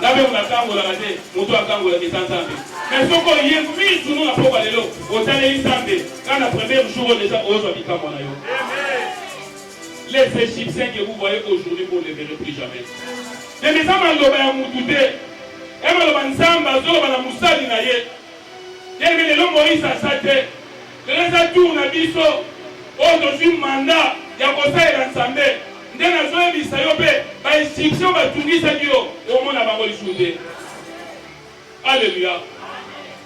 Ngai mpe nakangolaka te, moto akangolaka eza Nzambe. Mais soki oye mille tourno na pokwa lelo, otaleli Nzambe, kaka na premier jour oyo deja ozwa bikamwa na yo. Les Egyptiens que vous voyez aujourd'hui, vous ne les verrez plus jamais. Ndenge eza maloba ya mutu te, ya maloba Nzambe azoloba na mosali na ye. Ndenge lelo Moïse aza te, Lelo eza tour na biso oyo tozui mandat ya kosalela Nzambe nde nazo yebisa yo pe ba Egyptiens ba tungisaki yo omona bango lisusu te Alleluia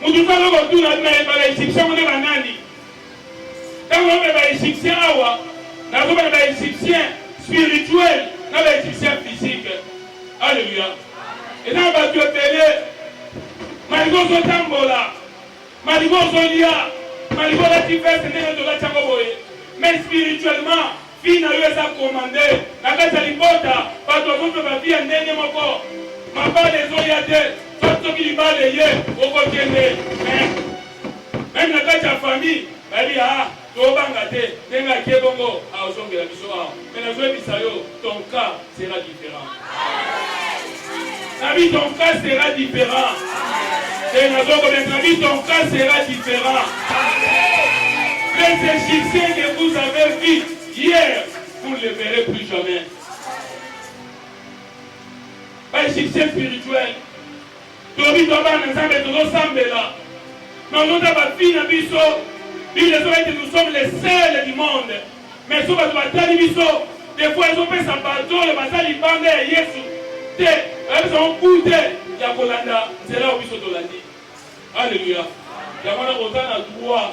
mutu te azo kotuna na ye ba Egyptiens ngo nde ba nani tango naomela ba Egyptiens awa nazomela ba Egyptiens spirituel na ba Egyptiens physique Alleluia eza na batu ebele malgré ozotambola Malibu ozolia malibu olati veste ndenge nini olati yango boye mais spirituellement vie na yo eza commande na kati ya libota bato bazope ba vie ya ndenge moko mabala ezoya te soit soki libala eye okokende mais meme na kati ya famille bayebi ah Tobanga te ndenge ake bongo aozongela biso awa mais nazoyebisa yo ton cas sera different nabi ton cas sera different te nazokobeta nabi ton cas sera different mais ce succès que vous avez vu hier vous ne le verrez plus jamais ba succès spirituel Tobi to bana nzambe tozo sambela bango ta ba fille na biso bible ezoba ete nous sommes les seuls du monde mais so bato batali biso des fois ezopesa bato oyo baza libanda ya yesu te ayebisa bango gout te ya kolanda nzela oyo biso tolandi alleluya yango wana oza na droit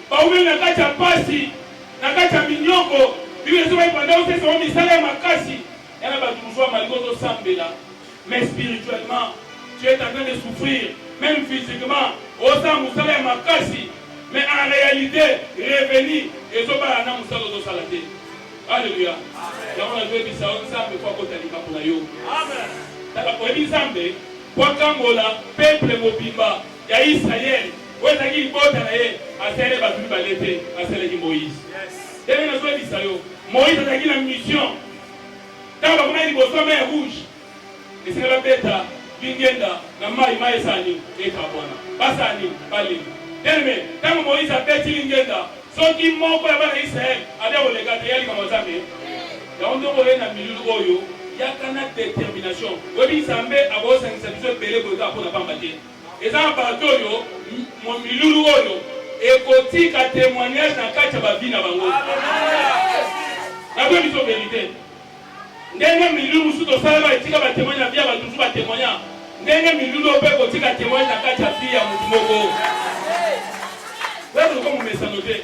Baumeli na kati ya mpasi, na kati ya minyoko. Biblia ezo baki banda osesa bango misala ya makasi. Y'a na batu mosusu bamali ko zosambela mais spirituellement tu es en train de souffrir meme physiquement osala mosala ya makasi mais en réalité revenu ezobala na mosala ozosala te alleluya yango nazoyebisa yo nzambe po akota likambo na yo tala oyebi nzambe po akangola peuple mobimba Ya Israël oyo ezalaki libota na ye asaleli bato mibale te asalaki Moïse ndenge nazwebisa yo Moïse azalaki na mission ntango bakomaki liboso ya mer rouge esika babeta lingenda na mai mai esani ekabwana basani balingi teleme ntango Moïse abeti lingenda soki moko ya bana Israël abe koleka te ya likambo nzambe yango nde okoye na milulu oyo yaka na determination oyebi nzambe akosangisa biso ebele boye kaka mpo na pamba te Eza na bato oyo milulu oyo ekotika temoignage na kati ya ba vie na bango. Naboyi biso verite. Ndenge milulu mosusu tosala ba etika ba temoignage na vie ya bato mosusu ba temoigna, ndenge milulu oyo mpe ekotika temoignage na kati ya vie ya moto moko. Wewe ulikuwa mumesano te.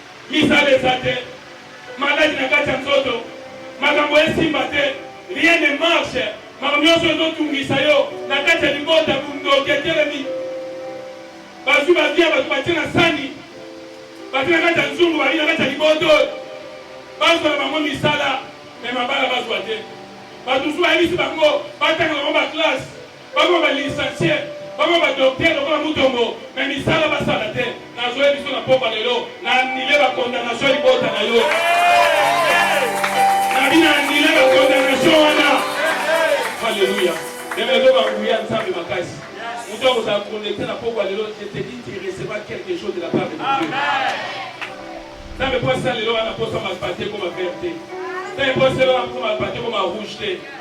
Misala eza te, maladi na kati ya nzoto, makambo esimba te, rien ne marche, makambo nionso ezo tungisa yo na kati ya libota, bundoki etelemi, bazui ba vie ya batu batie na sani, batie na kati ya nzungu, balie na kati ya liboto, bazua na bango misala mais mabala bazua te, batu mosusu bayebisi bango batanga na bango ba classe. Bakoma ba licencie, bakoma ba docteur lokola Mutombo mais misala basala te. Nazo ye biso na pokwa lelo na annule ba condamnation ya libota na yo. Nabi na annule ba condamnation wana. Hallelujah. Ndenge ezo ba nguya Nzambe makasi. Mutu akozala connecte na pokwa lelo, je te dis tu recevras quelque chose de la part de Dieu. Nzambe po asala lelo wana posa malpate ekoma vert te. Nzambe po asala wana posa malpate ekoma rouge te.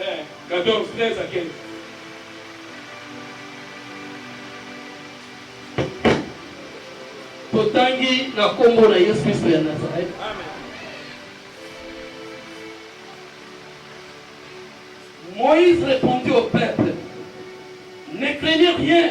Eh, 14, 13 à 15. Totangi na kombo na Yesu Kristo ya Nazareth. Amen. Moïse répondit au peuple, ne craignez rien,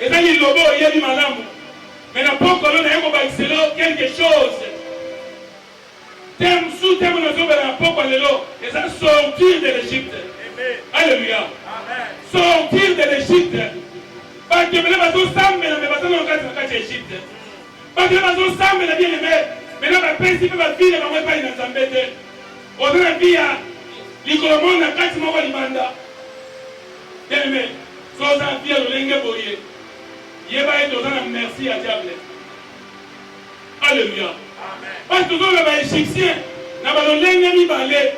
Eza liloba oyebi malamu mais na pokwa no naye kobakisela yo quelque chose tem su tem nazobela na pokwa lelo eza sortir de l'Egypte alleluia sortir de l'Egypte bato ebele bazosambela me baza na kati na kati ya Egypte bato ebele bazosambela bien eme mena bapesi mpe bavile bango epai na Nzambe te oza na vie ya likolo moko na kati moko libanda Te mais soki oza na vie ya lolenge boye yeba ete oza na merci ya diable. Alleluia. Pasi tozo loba egyptien na ba lolenge mibale.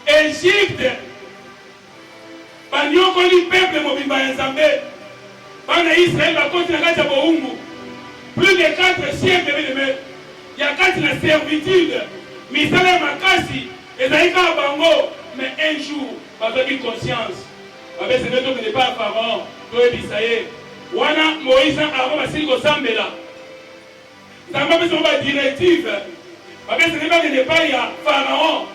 Egypte ba niokoli peuple mobimba ya Nzambe. Bana Israël ba koti na kati ya bowumbu plus de 4 siècle bien aime ya kati na servitude misala ya makasi ezali kaka bango mais un jour Babebi conscience. Babesenge tokende epai ya Pharaon toyebisa ye. Wana Moïse na Aaron basili kosambela, Nzambe apesi bango ba directives. Babesenge bakende epai ya Pharaon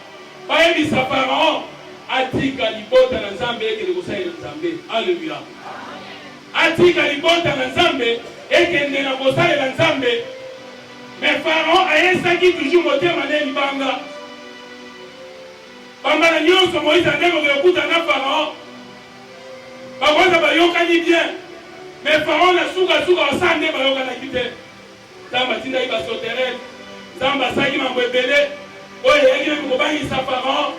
bayebisa Pharaon atika libota na Nzambe ekende kosalela Nzambe. Alleluia! Atika libota na Nzambe ekende na kosalela Nzambe. Mais Pharaon ayesaki toujours motema ne libanga. Bambala nyonso Moïse ake kokende kokutana na Pharaon, bakonza bayokani bien, mais Pharaon na suka suka basala nde bayokanaki te. Nzambe atindaki ba sauterelles, Nzambe asalaki mambo ebele oyo eyaki meme kobangisa Pharaon.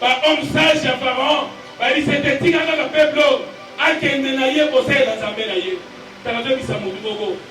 Ba hommes sages ya Pharaon bayebisi ye te, tika kaka peuple oyo akende na ye kosalela Nzambe na ye. Tala, azobimisa mutu moko.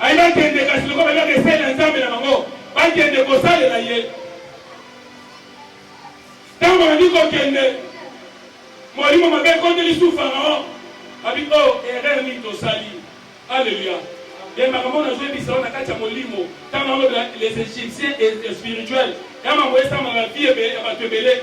Baye bakende kasi lokola bayebaka esalela ya Nzambe na bango, bakende kosalela ye. Ntango babandi kokende, molimo mabe ekoti lisusu Faraon, abi o oh, erreur nini tosali? Aleluya! Nde makambo nazoyebisa yo na kati ya molimo, ntango nalobela les Egyptiens et spirituels, ya mambo esamaka na vie ya bato ebele.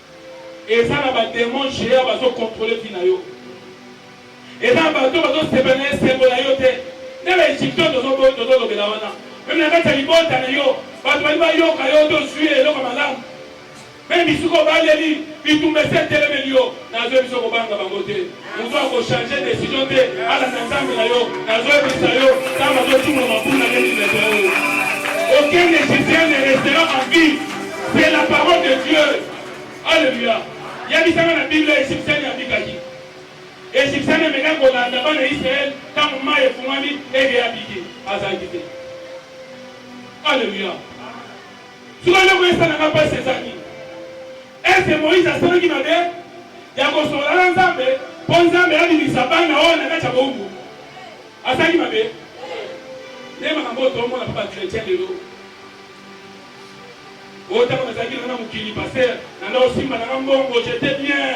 Eza na ba demon geant bazo controler vie na yo eza na bato bazo sepela na esengo na yo te nde ba egyptien tozo tozo lobela wana meme na kati ya libota na yo bato bali bayoka yo te ozui eloko ya malamu meme bisika obaleli bitumba esi etelemeli yo nazwe biso kobanga bango te Moto ako changer decision te, alanda Nzambe na yo. Nazo yebisa yo, Nzambe azo tuna mabuna neti leta oyo. Aucun Égyptien ne restera en vie. C'est la parole de Dieu. Alléluia. Yebisanga na Biblia Égyptien abikaki. Égyptien ameka kolanda bana Israël ntango mai efungwami ege abiki azalaki te. Alléluia. Soki eloko esalaka mpasi ezali Est ce que Moïse asalaki mabe ya kosolola na Nzambe mpo Nzambe abimisa bana oyo na kati ya bowumbu? Asalaki mabe? Nde makambo oyo tomona mpo bakretien lelo oyo ntango nazalaki nanga na mokili paster nanga osimba nanga mbongo jete bien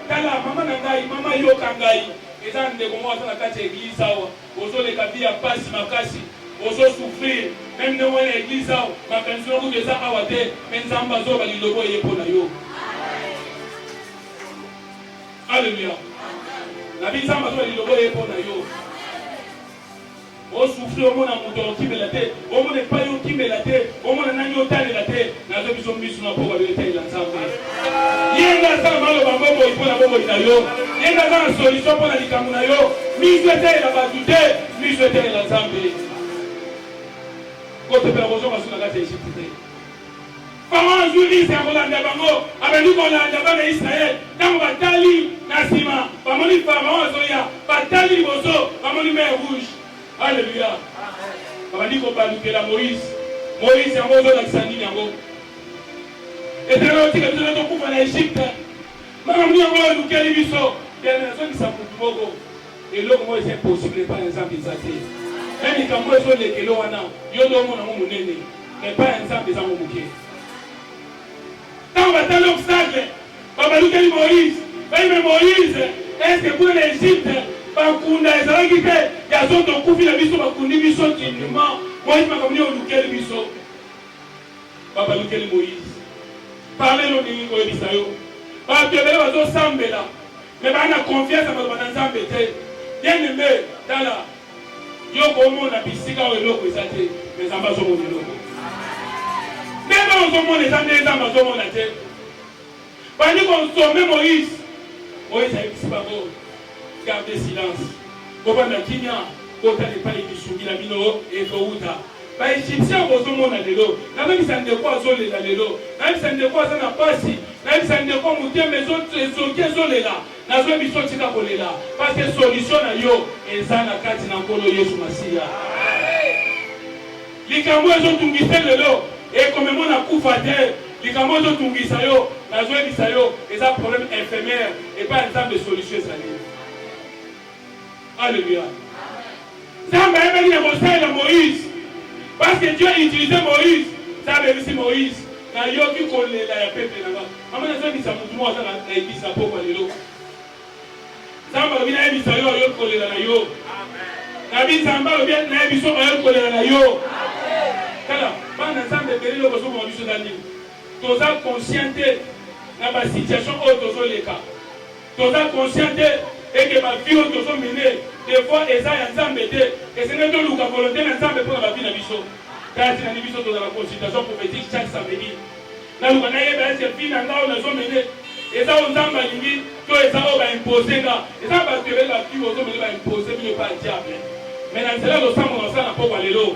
Tala maman na ngai maman yoka ngai eza ndeko moko aza na kati ya eglise awa ozo leka vie ya pasi makasi ozo souffrir meme ndenge wana eglise awa makanisi na yo kutu eza awa te mais nzambe azoloba liloba eye mpo na yo alleluia nabi nzambe azoloba liloba eye mpo na yo O souffrir omona mutu okimela te omona epayi okimela te omona nani otalela te nazo biso misu na pokwa yo etalela nzambe ye nde aza na maloba bomoi mpo na bomoi na yo ye nde aza na solution mpo na likambo na yo misu etalela bato te misu etalela nzambe kotepela kozwa masu na kati ya egypte te Faraon azwi rize ya kolanda bango, abandi kolanda bana Israël. Tango batali na sima, bamoni Faraon azoya, batali liboso, bamoni mer rouge. Alleluia! Babandi kobalukela Moïse. Moïse, yango ozolakisa nini yango? Etala otika biso na tokufa na Egypte. Makambo nini yango olukeli biso? Bien, nazongisa mutu moko. Eloko moko eza impossible epai ya Nzambe eza te. Meme likambo oyo ezo leka elo wana, yo nde omona yango monene, mais epai ya Nzambe eza yango moke. Tango batali obstacle, babalukeli Moïse, bayebi mais Moïse, est ce que kuna na Egypte bakunda ezalaki te? Ya zo tokufi na biso, bakundi biso dignement. Moïse makambo nini olukeli biso? Babalukeli Moïse, parle no ndenge ekoyebisa yo. Bato ebele bazo sambela. Mais ba na confiance ya maloba na Nzambe te. Bien aime tala yo oko omona bisika oyo eloko eza te mais Nzambe azo mona eloko. Ndenge oyo ozo mona eza ndenge Nzambe azo mona te. Bandi ko nsombe Moïse. Moïse ayebisi bango garde silence. Bovanda kimia botala epai lisungi na bino ekowuta. Ba Egyptiens bozo mona lelo, na bebisa ndeko azo lela lelo, na yebisa ndeko aza na pasi, na yebisa ndeko motema ezo ezoki ezo lela, nazo yebisa yo tika ko lela parce que solution na yo eza na kati na Nkolo Yesu Masiya. Likambo oyo ezo tungisa yo lelo ekomema na kufa te, likambo oyo ezo tungisa yo nazo yebisa yo eza problème infirmière, epai ya Nzambe solution ezali. Alléluia. Nzambe ayebaki na kosalela Moïse. Parce que Dieu a utilisé Moïse. Nzambe ayebisi Moïse, nayoki kolela ya peuple na nga. Mama nazongisa mutu moko aza na eglise pokwa lelo. Nzambe alobi nayebisa yo ayoki kolela na yo. Nabi Nzambe alobi nayebiso ayoki kolela na yo. Tala, bana Nzambe ebele lelo bozokoma biso eza nini? Toza conscient te na ba situation oyo tozoleka. Toza conscient te et que ba vie oyo tozo mene de fois eza ya Nzambe te. Esengeli toluka volonte na Nzambe pona ba vie na biso. Tala tina ni biso tozala consultation prophetique chaque samedi. Naluka nayeba est-ce que vie na nga oyo nazo mene eza oyo Nzambe alingi to eza oyo ba imposer nga. Eza batu ebele ba vie bozo mene ba imposer bino epa ya diable. Mais na nzela ya losambo na osala na pokwa lelo.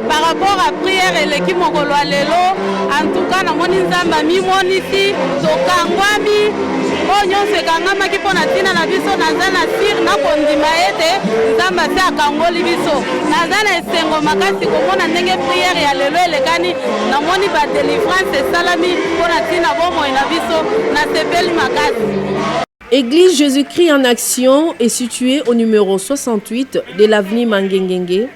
Par rapport à prière eleki mokolo ya lelo, en tout cas namoni Nzambe amimonisi, tokangwami oyo nyonso ekangamaki mpo na ntina na biso. Naza na sir na kondima ete Nzambe asi akangoli biso. Naza na esengo makasi komona ndenge prière ya lelo elekani. Namoni ba delivrance esalami mpo na ntina bomoi na biso, nasepeli makasi. Église Jésus-Christ en Action est située au numéro 68 de l'avenue Mangengenge,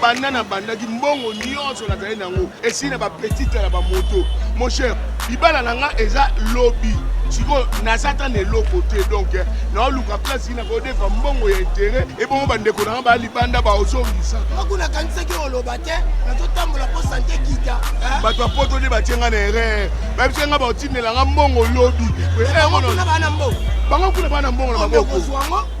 Banda na bandaki mbongo nyonso nazali na yango esili na bapetite na bamoto mon cher libala na nga eza lobi sikoyo naza ata na eloko te donk naoluka place na kodefa mbongo ya intere ebongo bandeko na nga baya libanda baozongisa mako nakanisaki oloba te nazotambola mpo sante kita bato ya poto nde batie nga na erreur babisa nga baotindela nga mbongo lobi bango kuna bana mbongo na maboko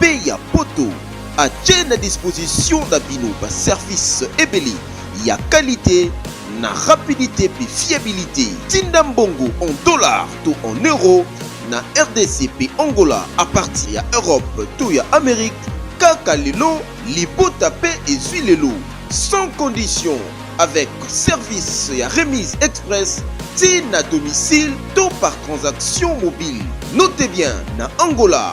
pe ya poto atie na disposition na bino ba service ebele ya qualite na rapidite pe fiabilite. Tinda mbongo en dollars to en euros na rdc pe Angola a partir ya Europe to ya Amerique kaka lelo libota pe ezui lelo sans condition avec service ya remise express ti na domicile to par transaction mobile. Notez bien na Angola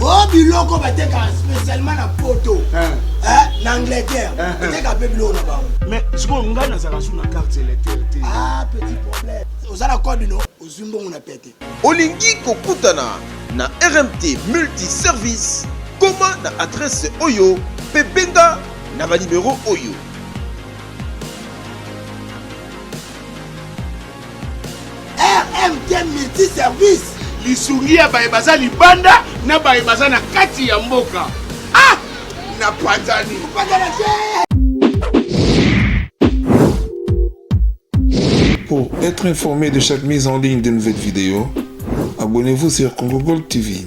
o biloko batekaka spécialement na poto na angleterre bateka mpe biloko na bango mais sikoyo ngai nazalaka su na carte électeur te ah petit problème oza na code no ozwi mbongo na pete olingi kokutana na rmt multiservice koma na adrese oyo mpe benga na banimero oyo rmd multiservice lisungi ya baye baza libanda na baye baza na kati ya mboka ah na panzani Pour être informé de chaque mise en ligne de nouvelles vidéos, abonnez-vous sur Congo Gold TV.